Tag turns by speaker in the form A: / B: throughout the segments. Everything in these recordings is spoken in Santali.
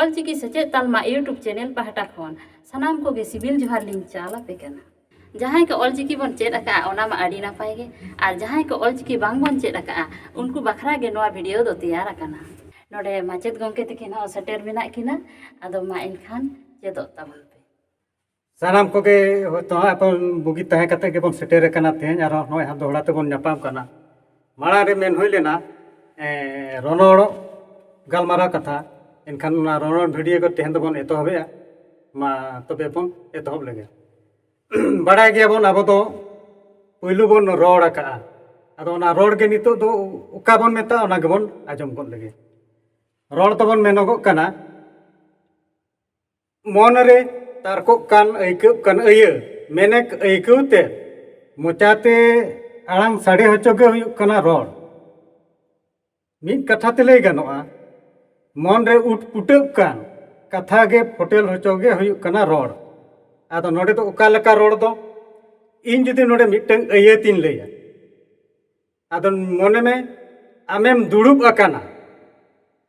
A: ᱚᱞᱪᱤᱠᱤ ᱥᱮᱪᱮᱫ ᱛᱟᱞᱢᱟ ᱤᱭᱩᱴᱩᱵᱽ ᱪᱮᱱᱮᱞ ᱯᱟᱦᱴᱟ ᱠᱷᱚᱱ ᱥᱟᱱᱟᱢ ᱠᱚᱜᱮ ᱥᱤᱵᱤᱞ ᱡᱚᱦᱟᱨ ᱞᱤᱧ ᱪᱟᱞ ᱟᱯᱮ ᱠᱟᱱᱟ ᱡᱟᱦᱟᱸᱭ ᱠᱚ ᱚᱞᱪᱤᱠᱤ ᱵᱚᱱ ᱪᱮᱫ ᱟᱠᱟᱫᱼᱟ ᱚᱱᱟ ᱢᱟ ᱟᱹᱰᱤ ᱱᱟᱯᱟᱭ ᱜᱮ ᱟᱨ ᱡᱟᱦᱟᱸᱭ ᱠᱚ ᱚᱞᱪᱤᱠᱤ ᱵᱟᱝ ᱵᱚᱱ ᱪᱮᱫ ᱟᱠᱟᱫᱼᱟ ᱩᱱᱠᱩ ᱵᱟᱠᱷᱨᱟ ᱜᱮ ᱱᱚᱣᱟ ᱵᱷᱤᱰᱤᱭᱳ ᱫᱚ ᱛᱮᱭᱟᱨ ᱟᱠᱟᱱᱟ ᱱᱚᱰᱮ ᱢᱟᱪᱮᱫ ᱜᱚᱢᱠᱮ ᱛᱟᱹᱠᱤᱱ ᱦᱚᱸ ᱥᱮᱴᱮᱨ ᱢᱮᱱᱟᱜ ᱠᱤᱱᱟ ᱟᱫᱚ ᱢᱟ ᱮᱱᱠᱷᱟᱱ ᱪᱮᱫᱚᱜ ᱛᱟᱵᱚᱱ ᱯᱮ ᱥᱟᱱᱟᱢ
B: ᱠᱚᱜᱮ ᱦᱚᱭᱛᱚ ᱦᱟᱸᱜ ᱮᱠᱷᱚᱱ ᱵᱩᱜᱤ ᱛᱟᱦᱮᱸ ᱠᱟᱛᱮ ᱜᱮᱵᱚᱱ ᱥᱮᱴᱮᱨ ᱟᱠᱟᱱᱟ ᱛᱮᱦᱮᱧ ᱟᱨᱦᱚᱸ ᱱᱚᱜᱼᱚᱭ ᱦᱟᱸᱜ ᱫᱚᱦᱲᱟ ᱛᱮᱵᱚᱱ ᱧᱟᱯᱟᱢ ᱠᱟᱱᱟ ᱢᱟᱲᱟᱝ ᱨᱮ ᱢᱮᱱ ᱦᱩᱭ ᱞᱮᱱᱟ ᱨᱚᱱᱚᱲ ᱜᱟᱞᱢᱟᱨᱟᱣ ᱠᱟᱛᱷᱟ ᱮᱱᱠᱷᱟᱱ ᱚᱱᱟ ᱨᱚᱱᱚᱲ ᱵᱷᱤᱰᱤᱭᱳ ᱠᱚ ᱛᱮᱦᱮᱧ ᱫᱚᱵᱚᱱ ᱮᱛᱚᱦᱚᱵᱮᱜᱼᱟ ᱢᱟ ᱛᱚᱵᱮ ᱵᱚᱱ ᱮᱛᱚᱦᱚᱵ ᱞᱮᱜᱮ ᱵᱟᱲᱟᱭ ᱜᱮᱭᱟᱵᱚᱱ ᱟᱵᱚ ᱫᱚ ᱯᱩᱭᱞᱩ ᱵᱚᱱ ᱨᱚᱲ ᱟᱠᱟᱜᱼᱟ ᱟᱫᱚ ᱚᱱᱟ ᱨᱚᱲ ᱜᱮ ᱱᱤᱛᱚᱜ ᱫᱚ ᱚᱠᱟ ᱵᱚᱱ ᱢᱮᱛᱟᱜᱼᱟ ᱚᱱᱟ ᱜᱮᱵᱚᱱ ᱟᱸᱡᱚᱢ ᱜᱚᱫ ᱞᱮᱜᱮ ᱨᱚᱲ ᱫᱚᱵᱚᱱ ᱢᱮᱱᱚᱜᱚᱜ ᱠᱟᱱᱟ ᱢᱚᱱᱨᱮ ᱛᱟᱨᱠᱚᱜ ᱠᱟᱱ ᱟᱹᱭᱠᱟᱹᱜ ᱠᱟᱱ ᱟᱹᱭᱟᱹ ᱢᱮᱱᱮᱠ ᱟᱹᱭᱠᱟᱹᱣ ᱛᱮ ᱢᱚᱪᱟᱛᱮ ᱟᱲᱟᱝ ᱥᱟᱰᱮ ᱦᱚᱪᱚ ᱜᱮ ᱦᱩᱭᱩᱜ ᱠᱟᱱᱟ ᱨᱚᱲ ᱢᱤᱫ ᱠᱟᱛᱷᱟ ᱛᱮ ᱞᱟᱹᱭ ᱜᱟᱱᱚᱜᱼᱟ ᱢᱚᱱᱨᱮ ᱩᱴ ᱯᱩᱴᱟᱹᱜ ᱠᱟᱱ ᱠᱟᱛᱷᱟ ᱜᱮ ᱯᱷᱚᱴᱮᱞ ᱦᱚᱪᱚ ᱜᱮ ᱦᱩᱭᱩᱜ ᱠᱟᱱᱟ ᱨᱚᱲ ᱟᱫᱚ ᱱᱚᱰᱮ ᱫᱚ ᱚᱠᱟ ᱞᱮᱠᱟ ᱨᱚᱲ ᱫᱚ ᱤᱧ ᱡᱩᱫᱤ ᱱᱚᱰᱮ ᱢᱤᱫᱴᱟᱝ ᱟᱹᱭᱟᱹᱛᱤᱧ ᱞᱟᱹᱭᱟ ᱟᱫᱚ ᱢᱚᱱᱮ ᱢᱮ ᱟᱢᱮᱢ ᱫᱩᱲᱩᱵ ᱟᱠᱟᱱᱟ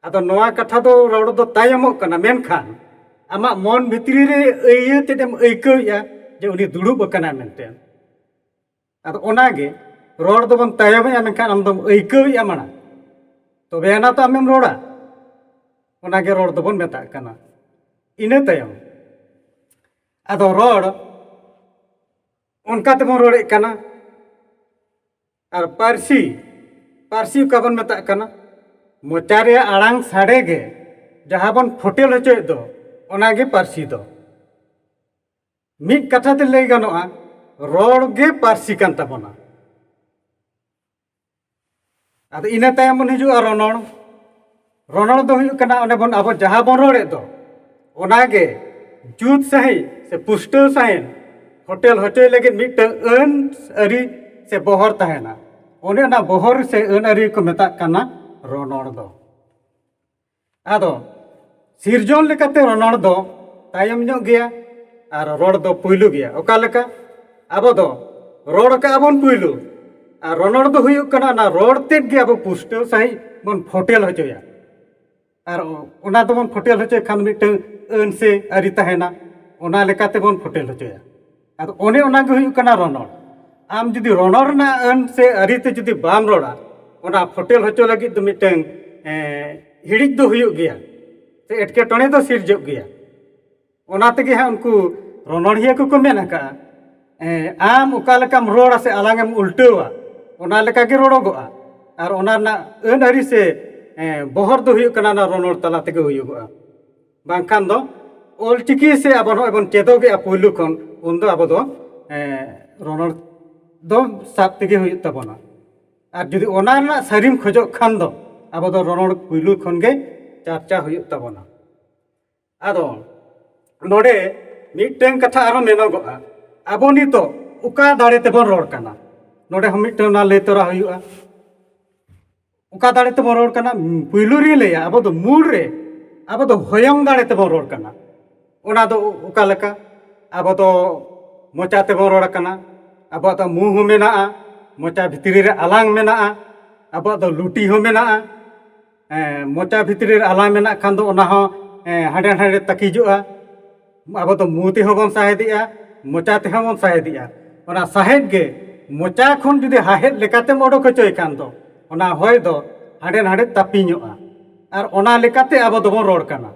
B: ᱟᱫᱚ ᱱᱚᱣᱟ ᱠᱟᱛᱷᱟ ᱫᱚ ᱨᱚᱲ ᱫᱚ ᱛᱟᱭᱚᱢᱚᱜ ᱠᱟᱱᱟ ᱢᱮᱱᱠᱷᱟᱱ ᱟᱢᱟᱜ ᱢᱚᱱ ᱵᱷᱤᱛᱨᱤ ᱨᱮ ᱤᱭᱟᱹ ᱛᱮᱫᱮᱢ ᱟᱹᱭᱠᱟᱹᱣᱮᱜᱼᱟ ᱡᱮ ᱩᱱᱤ ᱫᱩᱲᱩᱵ ᱟᱠᱟᱱᱟᱭ ᱢᱮᱱᱛᱮ ᱟᱫᱚ ᱚᱱᱟᱜᱮ ᱨᱚᱲ ᱫᱚᱵᱚᱱ ᱛᱟᱭᱚᱢᱮᱜᱼᱟ ᱢᱮᱱᱠᱷᱟᱱ ᱟᱢ ᱫᱚᱢ ᱟᱹᱭᱠᱟᱹᱣᱮᱜᱼᱟ ᱢᱟᱲᱟᱝ ᱛᱚᱵᱮ ᱟᱱᱟ ᱛᱚ ᱟᱢᱮᱢ ᱨᱚᱲᱟ ᱚᱱᱟᱜᱮ ᱨᱚᱲ ᱫᱚᱵᱚᱱ ᱢᱮᱛᱟᱜ ᱠᱟᱱᱟ ᱤᱱᱟᱹ ᱛᱟᱭᱚᱢ ᱟᱫᱚ ᱨᱚᱲ ᱚᱱᱠᱟ ᱛᱮᱵᱚᱱ ᱨᱚᱲᱮᱫ ᱠᱟᱱᱟ ᱟᱨ ᱯᱟᱹᱨᱥᱤ ᱯᱟᱹᱨᱥᱤ ᱚᱠᱟ ᱵᱚᱱ ᱢᱮᱛᱟᱜ ᱠᱟᱱᱟ ᱢᱚᱪᱟ ᱨᱮᱭᱟᱜ ᱟᱲᱟᱝ ᱥᱟᱰᱮ ᱜᱮ ᱡᱟᱦᱟᱸ ᱵᱚᱱ ᱯᱷᱩᱴᱮᱞ ᱦᱚᱪᱚᱭᱮᱫ ᱫᱚ ᱚᱱᱟᱜᱮ ᱯᱟᱹᱨᱥᱤ ᱫᱚ ᱢᱤᱫ ᱠᱟᱛᱷᱟ ᱛᱮ ᱞᱟᱹᱭ ᱜᱟᱱᱚᱜᱼᱟ ᱨᱚᱲ ᱜᱮ ᱯᱟᱹᱨᱥᱤ ᱠᱟᱱ ᱛᱟᱵᱚᱱᱟ ᱟᱫᱚ ᱤᱱᱟᱹ ᱛᱟᱭᱚᱢ ᱵᱚᱱ ᱦᱤᱡᱩᱜᱼᱟ ᱨᱚᱱᱚᱲ ᱨᱚᱱᱚᱲ ᱫᱚ ᱦᱩᱭᱩᱜ ᱠᱟᱱᱟ ᱚᱸᱰᱮ ᱵᱚᱱ ᱟᱵᱚ ᱡᱟᱦᱟᱸ ᱵᱚᱱ ᱨᱚᱲᱮᱫ ᱫᱚ ᱚᱱᱟᱜᱮ ᱡᱩᱛ ᱥᱟᱺᱦᱤᱡ ᱥᱮ ᱯᱩᱥᱴᱟᱹᱣ ᱥᱟᱺᱦᱤᱡ ᱦᱳᱴᱮᱞ ᱦᱚᱪᱚᱭ ᱞᱟᱹᱜᱤᱫ ᱢᱤᱫᱴᱟᱝ ᱟᱹᱱ ᱟᱹᱨᱤ ᱥᱮ ᱵᱚᱦᱚᱨ ᱛᱟᱦᱮᱱᱟ ᱚᱱᱮ ᱚᱱᱟ ᱵᱚᱦᱚᱨ ᱥᱮ ᱟᱹᱱ ᱟᱹᱨᱤ ᱠᱚ ᱢᱮᱛᱟᱜ ᱠᱟᱱᱟ ᱨᱚᱱᱚᱲ ᱫᱚ ᱟᱫᱚ ᱥᱤᱨᱡᱚᱱ ᱞᱮᱠᱟᱛᱮ ᱨᱚᱱᱚᱲ ᱫᱚ ᱛᱟᱭᱚᱢ ᱧᱚᱜ ᱜᱮᱭᱟ ᱟᱨ ᱨᱚᱲ ᱫᱚ ᱯᱩᱭᱞᱩ ᱜᱮᱭᱟ ᱚᱠᱟ ᱞᱮᱠᱟ ᱟᱵᱚ ᱫᱚ ᱨᱚᱲ ᱠᱟᱜᱼᱟ ᱵᱚᱱ ᱯᱩᱭᱞᱩ ᱟᱨ ᱨᱚᱱᱚᱲ ᱫᱚ ᱦᱩᱭᱩᱜ ᱠᱟᱱᱟ ᱚᱱᱟ ᱨᱚᱲ ᱛᱮᱫ ᱜᱮ ᱟᱵᱚ ᱯᱩᱥᱴᱟᱹᱣ ᱥᱟᱺᱦᱤᱡ ᱵᱚᱱ ᱯᱷᱳᱴᱮᱞ ᱦᱚᱪᱚᱭᱟ ᱟᱨ ᱚᱱᱟ ᱫᱚᱵᱚᱱ ᱯᱷᱳᱴᱮᱞ ᱦᱚᱪᱚᱭ ᱠᱷᱟᱱ ᱢᱤᱫᱴᱟᱹᱝ ᱟᱹᱱ ᱥᱮ ᱟᱹᱨᱤ ᱛᱟᱦᱮᱱᱟ ᱚᱱᱟ ᱞᱮᱠᱟᱛᱮ ᱵᱚᱱ ᱯᱷᱳᱴᱮᱞ ᱦᱚᱪᱚᱭᱟ ᱟᱫᱚ ᱚᱱᱮ ᱚᱱᱟ ᱜᱮ ᱦᱩᱭᱩᱜ ᱠᱟᱱᱟ ᱨᱚᱱᱚᱲ ᱟᱢ ᱡᱩᱫᱤ ᱨᱚᱱᱚᱲ ᱨᱮᱱᱟᱜ ᱟᱹᱱ ᱥᱮ ᱟᱹᱨᱤ ᱛᱮ ᱡᱩᱫᱤ ᱵᱟᱢ ᱨᱚᱲᱟ ᱚᱱᱟ ᱯᱷᱚᱴᱮᱞ ᱦᱚᱪᱚ ᱞᱟᱹᱜᱤᱫ ᱫᱚ ᱢᱤᱫᱴᱟᱹᱝ ᱦᱤᱲᱤᱡ ᱫᱚ ᱦᱩᱭᱩᱜ ᱜᱮᱭᱟ ᱥᱮ ᱮᱴᱠᱮᱴᱚᱬᱮ ᱫᱚ ᱥᱤᱨᱡᱟᱹᱜ ᱜᱮᱭᱟ ᱚᱱᱟ ᱛᱮᱜᱮ ᱦᱟᱸᱜ ᱩᱱᱠᱩ ᱨᱚᱱᱚᱲᱤᱭᱟᱹ ᱠᱚᱠᱚ ᱢᱮᱱ ᱟᱠᱟᱫᱼᱟ ᱟᱢ ᱚᱠᱟ ᱞᱮᱠᱟᱢ ᱨᱚᱲᱟ ᱥᱮ ᱟᱞᱟᱝ ᱮᱢ ᱩᱞᱴᱟᱹᱣᱟ ᱚᱱᱟ ᱞᱮᱠᱟ ᱜᱮ ᱨᱚᱲᱚᱜᱚᱜᱼᱟ ᱟᱨ ᱚᱱᱟ ᱨᱮᱱᱟᱜ ᱟᱹᱱ ᱟᱹᱨᱤ ᱥᱮ ᱵᱚᱦᱚᱨ ᱫᱚ ᱦᱩᱭᱩᱜ ᱠᱟᱱᱟ ᱚᱱᱟ ᱨᱚᱱᱚᱲ ᱛᱟᱞᱟ ᱛᱮᱜᱮ ᱦᱩᱭᱩᱜᱚᱜᱼᱟ ᱵᱟᱝᱠᱷᱟᱱ ᱫᱚ ᱚᱞ ᱪᱤᱠᱤ ᱥᱮ ᱟᱵᱚ ᱱᱚᱜᱼᱚᱭ ᱵᱚᱱ ᱪᱮᱫᱚᱜᱮᱜᱼᱟ ᱯᱳᱭᱞᱳ ᱠᱷᱚᱱ ᱩᱱ ᱫᱚ ᱟᱵᱚ ᱫᱚ ᱨᱚᱨᱚᱲ ᱫᱚ ᱥᱟᱵ ᱛᱮᱜᱮ ᱦᱩᱭᱩᱜ ᱛᱟᱵᱚᱱᱟ ᱟᱨ ᱡᱩᱫᱤ ᱚᱱᱟ ᱨᱮᱱᱟᱜ ᱥᱟᱹᱨᱤᱢ ᱠᱷᱚᱡᱚᱜ ᱠᱷᱟᱱ ᱫᱚ ᱟᱵᱚ ᱫᱚ ᱨᱚᱨᱚᱲ ᱯᱳᱭᱞᱳ ᱠᱷᱚᱱ ᱜᱮ ᱪᱟᱨᱪᱟ ᱦᱩᱭᱩᱜ ᱛᱟᱵᱚᱱᱟ ᱟᱫᱚ ᱱᱚᱰᱮ ᱢᱤᱫᱴᱟᱝ ᱠᱟᱛᱷᱟ ᱟᱨᱦᱚᱸ ᱢᱮᱱᱚᱜᱚᱜᱼᱟ ᱟᱵᱚ ᱱᱤᱛᱚᱜ ᱚᱠᱟ ᱫᱟᱲᱮ ᱛᱮᱵᱚᱱ ᱨᱚᱲ ᱠᱟᱱᱟ ᱱᱚᱰᱮ ᱦᱚᱸ ᱢᱤᱫᱴᱟᱝ ᱚᱱᱟ ᱞᱟᱹᱭ ᱛᱚᱨᱟ ᱦᱩᱭᱩᱜᱼᱟ ᱚᱠᱟ ᱫᱟᱲᱮ ᱛᱮᱵᱚᱱ ᱨᱚᱲ ᱠᱟᱱᱟ ᱯᱩᱭᱞᱩ ᱨᱮ ᱞᱟᱹᱭᱟ ᱟᱵᱚ ᱫᱚ ᱢᱩᱞ ᱨᱮ ᱟᱵᱚ ᱫᱚ ᱦᱚᱭᱚᱝ ᱫᱟᱲᱮ ᱛᱮᱵᱚᱱ ᱨᱚᱲ ᱠᱟᱱᱟ ᱚᱱᱟ ᱫᱚ ᱚᱠᱟ ᱞᱮᱠᱟ ᱟᱵᱚ ᱫᱚ ᱢᱚᱪᱟ ᱛᱮᱵᱚᱱ ᱨᱚᱲ ᱠᱟᱱᱟ ᱟᱵᱚᱣᱟᱜ ᱫᱚ ᱢᱩ ᱦᱚᱸ ᱢᱮᱱᱟᱜᱼᱟ ᱢᱚᱪᱟ ᱵᱷᱤᱛᱨᱤ ᱨᱮ ᱟᱞᱟᱝ ᱢᱮᱱᱟᱜᱼᱟ ᱟᱵᱚᱣᱟᱜ ᱫᱚ ᱞᱩᱴᱤ ᱦᱚᱸ ᱢᱮᱱᱟᱜᱼᱟ ᱢᱚᱪᱟ ᱵᱷᱤᱛᱨᱤ ᱨᱮ ᱟᱞᱟᱝ ᱢᱮᱱᱟᱜ ᱠᱷᱟᱱ ᱫᱚ ᱚᱱᱟ ᱦᱚᱸ ᱦᱟᱸᱰᱮ ᱱᱟᱰᱮ ᱛᱟᱹᱠᱤᱡᱚᱜᱼᱟ ᱟᱵᱚ ᱫᱚ ᱢᱩ ᱛᱮᱦᱚᱸ ᱵᱚᱱ ᱥᱟᱦᱮᱫᱮᱜᱼᱟ ᱢᱚᱪᱟ ᱛᱮᱦᱚᱸ ᱵᱚᱱ ᱥᱟᱦᱮᱫᱮᱜᱼᱟ ᱚᱱᱟ ᱥᱟᱦᱮᱫ ᱜᱮ ᱢᱚᱪᱟ ᱠᱷᱚᱱ ᱡᱩᱫᱤ ᱦᱟᱦᱮᱫ ᱞᱮᱠᱟᱛᱮᱢ ᱚᱰᱚᱠ ᱦᱚᱪᱚᱭ ᱠᱷᱟᱱ ᱫᱚ ᱚᱱᱟ ᱦᱚᱭ ᱫᱚ ᱦᱟᱸᱰᱮ ᱱᱟᱸᱰᱮ ᱛᱟᱹᱯᱤᱧᱚᱜᱼᱟ ᱟᱨ ᱚᱱᱟ ᱞᱮᱠᱟᱛᱮ ᱟᱵᱚ ᱫᱚᱵᱚᱱ ᱨᱚᱲ ᱠᱟᱱᱟ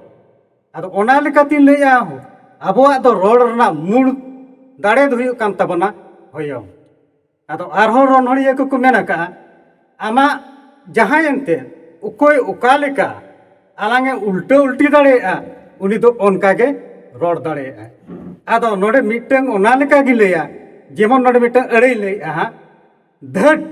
B: ᱟᱫᱚ ᱚᱱᱟ ᱞᱮᱠᱟᱛᱤᱧ ᱞᱟᱹᱭᱮᱜᱼᱟ ᱟᱵᱚᱣᱟᱜ ᱫᱚ ᱨᱚᱲ ᱨᱮᱱᱟᱜ ᱢᱩᱬ ᱫᱟᱲᱮ ᱫᱚ ᱦᱩᱭᱩᱜ ᱠᱟᱱ ᱛᱟᱵᱚᱱᱟ ᱦᱚᱭᱚᱝ ᱟᱫᱚ ᱟᱨᱦᱚᱸ ᱨᱚᱱᱚᱲᱤᱭᱟᱹ ᱠᱚᱠᱚ ᱢᱮᱱ ᱟᱠᱟᱜᱼᱟ ᱟᱢᱟᱜ ᱡᱟᱦᱟᱸᱭ ᱮᱱᱛᱮ ᱚᱠᱚᱭ ᱚᱠᱟ ᱞᱮᱠᱟ ᱟᱞᱟᱝ ᱮ ᱩᱞᱴᱟᱹ ᱩᱞᱴᱤ ᱫᱟᱲᱮᱭᱟᱜᱼᱟ ᱩᱱᱤ ᱫᱚ ᱚᱱᱠᱟ ᱜᱮ ᱨᱚᱲ ᱫᱟᱲᱮᱭᱟᱜᱼᱟ ᱟᱫᱚ ᱱᱚᱰᱮ ᱢᱤᱫᱴᱟᱝ ᱚᱱᱟ ᱞᱮᱠᱟ ᱜᱮ ᱞᱟᱹᱭᱟ ᱡᱮᱢᱚᱱ ᱱᱚᱰᱮ ᱢᱤᱫᱴᱟᱝ ᱟᱹᱲᱟᱹᱭ ᱞᱟᱹᱭᱮᱜᱼᱟ ᱦᱟᱸᱜ ᱫᱷᱟᱹᱴ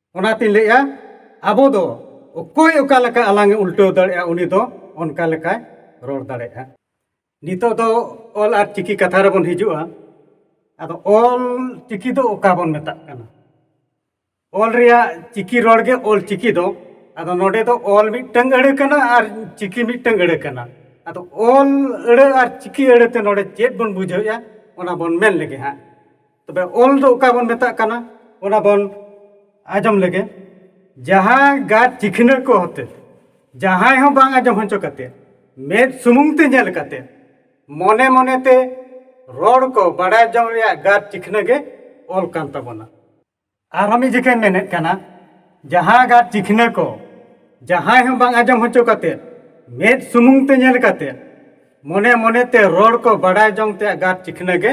B: ᱚᱱᱟᱛᱤᱧ ᱞᱟᱹᱭᱮᱜᱼᱟ ᱟᱵᱚ ᱫᱚ ᱚᱠᱚᱭ ᱚᱠᱟ ᱞᱮᱠᱟ ᱟᱞᱟᱝᱮ ᱩᱞᱴᱟᱹᱣ ᱫᱟᱲᱮᱭᱟᱜᱼᱟ ᱩᱱᱤ ᱫᱚ ᱚᱱᱠᱟ ᱞᱮᱠᱟᱭ ᱨᱚᱲ ᱫᱟᱲᱮᱭᱟᱜᱼᱟ ᱱᱤᱛᱳᱜ ᱫᱚ ᱚᱞ ᱟᱨ ᱪᱤᱠᱤ ᱠᱟᱛᱷᱟ ᱨᱮᱵᱚᱱ ᱦᱤᱡᱩᱜᱼᱟ ᱟᱫᱚ ᱚᱞ ᱪᱤᱠᱤ ᱫᱚ ᱚᱠᱟ ᱵᱚᱱ ᱢᱮᱛᱟᱜ ᱠᱟᱱᱟ ᱚᱞ ᱨᱮᱭᱟᱜ ᱪᱤᱠᱤ ᱨᱚᱲ ᱜᱮ ᱚᱞ ᱪᱤᱠᱤ ᱫᱚ ᱟᱫᱚ ᱱᱚᱰᱮ ᱫᱚ ᱚᱞ ᱢᱤᱫᱴᱟᱹᱝ ᱟᱹᱲᱟᱹ ᱠᱟᱱᱟ ᱟᱨ ᱪᱤᱠᱤ ᱢᱤᱫᱴᱟᱹᱝ ᱟᱹᱲᱟᱹ ᱠᱟᱱᱟ ᱟᱫᱚ ᱚᱞ ᱟᱹᱲᱟᱹ ᱟᱨ ᱪᱤᱠᱤ ᱟᱹᱲᱟᱹ ᱛᱮ ᱱᱚᱰᱮ ᱪᱮᱫ ᱵᱚᱱ ᱵᱩᱡᱷᱟᱹᱣᱮᱜᱼᱟ ᱚᱱᱟ ᱵᱚᱱ ᱢᱮᱱ ᱞᱮᱜᱮ ᱦᱟᱸᱜ ᱛᱚᱵᱮ ᱚᱞ ᱫᱚ ᱚᱠᱟ ᱵᱚᱱ ᱢᱮᱛᱟᱜ ᱠᱟᱱᱟ ᱚᱱᱟ ᱵᱚᱱ ᱟᱸᱡᱚᱢ ᱞᱮᱜᱮ ᱡᱟᱦᱟᱸ ᱜᱟᱨ ᱪᱤᱠᱷᱱᱟᱹ ᱠᱚ ᱦᱚᱛᱮ ᱡᱟᱦᱟᱸᱭ ᱦᱚᱸ ᱵᱟᱝ ᱟᱸᱡᱚᱢ ᱦᱚᱪᱚ ᱠᱟᱛᱮ ᱢᱮᱫ ᱥᱩᱢᱩᱝ ᱛᱮ ᱧᱮᱞ ᱠᱟᱛᱮ ᱢᱚᱱᱮ ᱢᱚᱱᱮ ᱛᱮ ᱨᱚᱲ ᱠᱚ ᱵᱟᱲᱟᱭ ᱡᱚᱝ ᱨᱮᱭᱟᱜ ᱜᱟᱨ ᱪᱤᱠᱷᱱᱟᱹ ᱜᱮ ᱚᱞ ᱠᱟᱱ ᱛᱟᱵᱚᱱᱟ ᱟᱨ ᱢᱤᱫ ᱡᱮᱠᱷᱟᱹᱧ ᱢᱮᱱᱮᱫ ᱠᱟᱱᱟ ᱡᱟᱦᱟᱸ ᱜᱟᱜ ᱪᱤᱠᱷᱱᱟᱹ ᱠᱚ ᱡᱟᱦᱟᱸᱭ ᱦᱚᱸ ᱵᱟᱝ ᱟᱸᱡᱚᱢ ᱦᱚᱪᱚ ᱠᱟᱛᱮ ᱢᱮᱫ ᱥᱩᱢᱩᱝ ᱛᱮ ᱧᱮᱞ ᱠᱟᱛᱮ ᱢᱚᱱᱮ ᱢᱚᱱᱮ ᱛᱮ ᱨᱚᱲ ᱠᱚ ᱵᱟᱰᱟᱭ ᱡᱚᱝ ᱛᱮ ᱜᱟᱜ ᱪᱤᱠᱷᱱᱟᱹ ᱜᱮ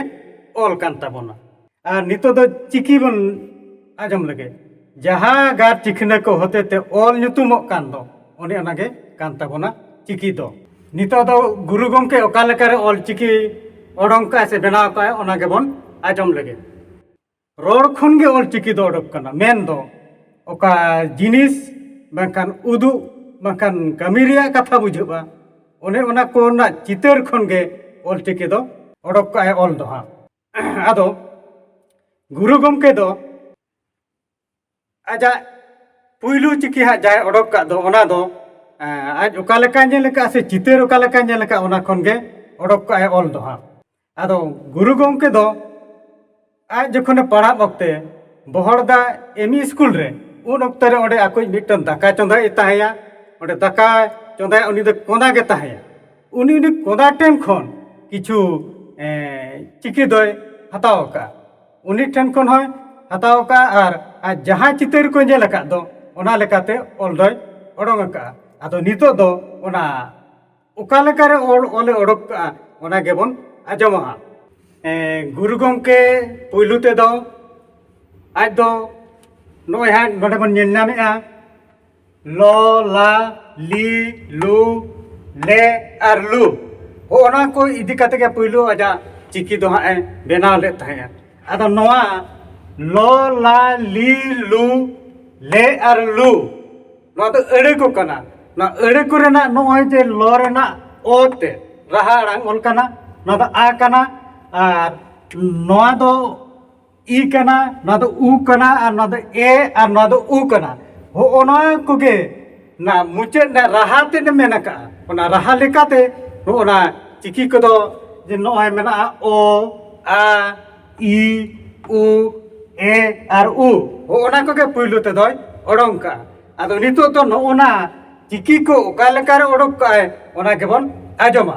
B: ᱚᱞ ᱠᱟᱱ ᱛᱟᱵᱚᱱᱟ ᱟᱨ ᱱᱤᱛᱚᱜ ᱫᱚ ᱪᱤᱠᱤ ᱵᱚᱱ ᱟᱸᱡᱚᱢ ᱞᱮᱜᱮ ᱡᱟᱦᱟᱸ ᱜᱟᱜ ᱪᱤᱠᱷᱱᱟᱹ ᱠᱚ ᱦᱚᱛᱮ ᱛᱮ ᱚᱞ ᱧᱩᱛᱩᱢᱚᱜ ᱠᱟᱱ ᱫᱚ ᱚᱱᱮ ᱚᱱᱟ ᱜᱮ ᱠᱟᱱ ᱛᱟᱵᱚᱱᱟ ᱪᱤᱠᱤ ᱫᱚ ᱱᱤᱛᱚᱜ ᱫᱚ ᱜᱩᱨᱩ ᱜᱚᱢᱠᱮ ᱚᱠᱟ ᱞᱮᱠᱟ ᱨᱮ ᱚᱞ ᱪᱤᱠᱤ ᱚᱰᱚᱝ ᱠᱟᱜᱼᱟᱭ ᱥᱮ ᱵᱮᱱᱟᱣ ᱠᱟᱜᱼᱟᱭ ᱚᱱᱟ ᱜᱮᱵᱚᱱ ᱟᱸᱡᱚᱢ ᱞᱮᱜᱮ ᱨᱚᱲ ᱠᱷᱚᱱ ᱜᱮ ᱚᱞᱪᱤᱠᱤ ᱫᱚ ᱚᱰᱚᱠ ᱠᱟᱱᱟ ᱢᱮᱱ ᱫᱚ ᱚᱠᱟ ᱡᱤᱱᱤᱥ ᱵᱟᱝᱠᱷᱟᱱ ᱩᱫᱩᱜ ᱵᱟᱝᱠᱷᱟᱱ ᱠᱟᱹᱢᱤ ᱨᱮᱭᱟᱜ ᱠᱟᱛᱷᱟ ᱵᱩᱡᱷᱟᱹᱜᱼᱟ ᱚᱱᱮ ᱚᱱᱟ ᱠᱚ ᱨᱮᱱᱟᱜ ᱪᱤᱛᱟᱹᱨ ᱠᱷᱚᱱ ᱜᱮ ᱚᱞᱪᱤᱠᱤ ᱫᱚ ᱚᱰᱚᱠ ᱠᱟᱜᱼᱟᱭ ᱚᱞ ᱫᱚ ᱦᱟᱸᱜ ᱟᱫᱚ ᱜᱩᱨᱩ ᱜᱚᱢᱠᱮ ᱫᱚ ᱟᱡᱟᱜ ᱯᱩᱭᱞᱩ ᱪᱤᱠᱤ ᱦᱟᱸᱜ ᱡᱟᱦᱟᱸᱭ ᱚᱰᱚᱠ ᱠᱟᱜ ᱫᱚ ᱚᱱᱟ ᱫᱚ ᱟᱡ ᱚᱠᱟ ᱞᱮᱠᱟᱭ ᱧᱮᱞ ᱟᱠᱟᱫ ᱥᱮ ᱪᱤᱛᱟᱹᱨ ᱚᱠᱟ ᱞᱮᱠᱟᱭ ᱧᱮᱞ ᱟᱠᱟᱫ ᱚᱱᱟ ᱠᱷᱚᱱ ᱜᱮ ᱚᱰᱚᱠ ᱠᱟᱜ ᱟᱭ ᱚᱞ ᱫᱚ ᱦᱟᱸᱜ ᱟᱫᱚ ᱜᱩᱨᱩ ᱜᱚᱢᱠᱮ ᱫᱚ ᱟᱡ ᱡᱚᱠᱷᱚᱱᱮ ᱯᱟᱲᱦᱟᱜ ᱚᱠᱛᱮ ᱵᱚᱦᱚᱲᱫᱟ ᱮᱢ ᱤ ᱥᱠᱩᱞ ᱨᱮ ᱩᱱ ᱚᱠᱛᱮ ᱨᱮ ᱚᱸᱰᱮ ᱟᱠᱚᱭᱤᱡ ᱢᱤᱫᱴᱟᱝ ᱫᱟᱠᱟ ᱪᱚᱸᱫᱟᱭ ᱛᱟᱦᱮᱸᱭᱟ ᱚᱸᱰᱮ ᱫᱟᱠᱟ ᱪᱚᱸᱫᱟᱭ ᱩᱱᱤ ᱫᱚ ᱠᱚᱸᱫᱟ ᱜᱮ ᱛᱟᱦᱮᱸᱭᱟ ᱩᱱᱤ ᱩᱱᱤ ᱠᱚᱸᱫᱟ ᱴᱷᱮᱱ ᱠᱷᱚᱱ ᱠᱤᱪᱷᱩ ᱪᱤᱠᱤ ᱫᱚᱭ ᱦᱟᱛᱟᱣ ᱟᱠᱟᱫᱼᱟ ᱩᱱᱤ ᱴᱷᱮᱱ ᱠᱷᱚᱱ ᱦᱚᱸᱭ ᱦᱟᱛᱟᱣ ᱠᱟᱜᱼᱟ ᱟᱨ ᱟᱡ ᱡᱟᱦᱟᱸ ᱪᱤᱛᱟᱹᱨ ᱠᱚᱭ ᱧᱮᱞ ᱟᱠᱟᱫ ᱫᱚ ᱚᱱᱟ ᱞᱮᱠᱟᱛᱮ ᱚᱞ ᱫᱚᱭ ᱚᱰᱚᱝ ᱟᱠᱟᱫᱼᱟ ᱟᱫᱚ ᱱᱤᱛᱚᱜ ᱫᱚ ᱚᱱᱟ ᱚᱠᱟ ᱞᱮᱠᱟᱨᱮ ᱚᱞ ᱚᱞᱮ ᱚᱰᱚᱠ ᱠᱟᱜᱼᱟ ᱚᱱᱟ ᱜᱮᱵᱚᱱ ᱟᱸᱡᱚᱢᱟ ᱦᱟᱸᱜ ᱜᱩᱨᱩ ᱜᱚᱢᱠᱮ ᱯᱳᱭᱞᱳ ᱛᱮᱫᱚ ᱟᱡ ᱫᱚ ᱱᱚᱜᱼᱚᱭ ᱦᱟᱸᱜ ᱱᱚᱰᱮ ᱵᱚᱱ ᱧᱮᱞ ᱧᱟᱢᱮᱜᱼᱟ ᱞ ᱞᱟ ᱞᱤ ᱞᱩ ᱞᱮ ᱟᱨ ᱞᱩ ᱦᱚᱸᱜᱼᱚ ᱱᱟ ᱠᱚ ᱤᱫᱤ ᱠᱟᱛᱮ ᱜᱮ ᱯᱳᱭᱞᱳ ᱟᱡᱟᱜ ᱪᱤᱠᱤ ᱫᱚ ᱦᱟᱸᱜ ᱮ ᱵᱮᱱᱟᱣ ᱞᱮᱫ ᱛᱟᱦᱮᱸᱜᱼᱟ ᱟᱫᱚ ᱱᱚᱣᱟ ᱞ ᱞᱟ ᱞᱤ ᱞᱩ ᱞᱮ ᱟᱨ ᱞᱩ ᱱᱚᱣᱟ ᱫᱚ ᱟᱹᱲᱟᱹ ᱠᱚ ᱠᱟᱱᱟ ᱱᱚᱣᱟ ᱟᱹᱲᱟᱹ ᱠᱚ ᱨᱮᱱᱟᱜ ᱱᱚᱜᱼᱚᱭ ᱡᱮ ᱞ ᱨᱮᱱᱟᱜ ᱚ ᱛᱮ ᱨᱟᱦᱟ ᱟᱲᱟᱝ ᱚᱞ ᱠᱟᱱᱟ ᱱᱚᱣᱟ ᱫᱚ ᱟ ᱠᱟᱱᱟ ᱟᱨ ᱱᱚᱣᱟ ᱫᱚ ᱤ ᱠᱟᱱᱟ ᱱᱚᱣᱟ ᱫᱚ ᱩ ᱠᱟᱱᱟ ᱟᱨ ᱱᱚᱣᱟ ᱫᱚ ᱮ ᱟᱨ ᱱᱚᱣᱟ ᱫᱚ ᱩ ᱠᱟᱱᱟ ᱦᱚᱜᱼᱚ ᱱᱚᱣᱟ ᱠᱚᱜᱮ ᱚᱱᱟ ᱢᱩᱪᱟᱹᱫ ᱨᱮᱱᱟᱜ ᱨᱟᱦᱟ ᱛᱮᱫ ᱢᱮᱱ ᱟᱠᱟᱜᱼᱟ ᱚᱱᱟ ᱨᱟᱦᱟ ᱞᱮᱠᱟᱛᱮ ᱱᱚᱜᱼᱚ ᱱᱟ ᱪᱤᱠᱤ ᱠᱚᱫᱚ ᱡᱮ ᱱᱚᱜᱼᱚᱭ ᱢᱮᱱᱟᱜᱼᱟ ᱚ ᱟ ᱤ ᱩ ᱮ ᱟᱨ ᱩ ᱦᱚᱜᱼᱚ ᱱᱟ ᱠᱚᱜᱮ ᱯᱳᱭᱞᱳ ᱛᱮᱫᱚᱭ ᱚᱰᱚᱝ ᱠᱟᱜᱼᱟ ᱟᱫᱚ ᱱᱤᱛᱚᱜ ᱫᱚ ᱱᱚᱜᱼᱚ ᱱᱟ ᱪᱤᱠᱤ ᱠᱚ ᱚᱠᱟ ᱞᱮᱠᱟᱨᱮ ᱚᱰᱚᱠ ᱠᱟᱜᱼᱟᱭ ᱚᱱᱟ ᱜᱮᱵᱚᱱ ᱟᱸᱡᱚᱢᱟ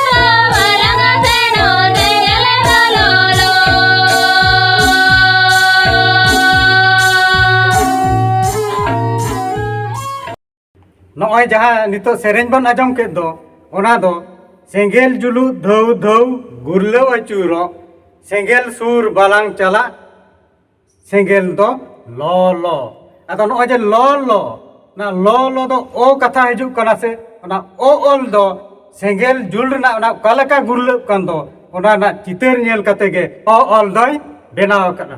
B: ᱱᱚᱜᱼᱚᱭ ᱡᱟᱦᱟᱸ ᱱᱤᱛᱚᱜ ᱥᱮᱨᱮᱧ ᱵᱚᱱ ᱟᱸᱡᱚᱢ ᱠᱮᱫ ᱫᱚ ᱚᱱᱟ ᱫᱚ ᱥᱮᱸᱜᱮᱞ ᱡᱩᱞᱩ ᱫᱷᱟᱹᱣ ᱫᱷᱟᱹᱣ ᱜᱩᱨᱞᱟᱹᱣ ᱟᱹᱪᱩᱨᱚᱜ ᱥᱮᱸᱜᱮᱞ ᱥᱩᱨ ᱵᱟᱞᱟᱝ ᱪᱟᱞᱟᱜ ᱥᱮᱸᱜᱮᱞ ᱫᱚ ᱞᱚ ᱞᱚ ᱟᱫᱚ ᱱᱚᱜᱼᱚᱭ ᱡᱮ ᱞᱚ ᱞᱚ ᱚᱱᱟ ᱞᱚ ᱞᱚ ᱫᱚ ᱚ ᱠᱟᱛᱷᱟ ᱦᱤᱡᱩᱜ ᱠᱟᱱᱟ ᱥᱮ ᱚᱱᱟ ᱚ ᱚᱞ ᱫᱚ ᱥᱮᱸᱜᱮᱞ ᱡᱩᱞ ᱨᱮᱱᱟᱜ ᱚᱱᱟ ᱚᱠᱟ ᱞᱮᱠᱟ ᱜᱩᱨᱞᱟᱹᱜ ᱠᱟᱱ ᱫᱚ ᱚᱱᱟ ᱨᱮᱱᱟᱜ ᱪᱤᱛᱟᱹᱨ ᱧᱮᱞ ᱠᱟᱛᱮ ᱜᱮ ᱚ ᱚᱞ ᱫᱚᱭ ᱵᱮᱱᱟᱣ ᱟᱠᱟᱫᱟ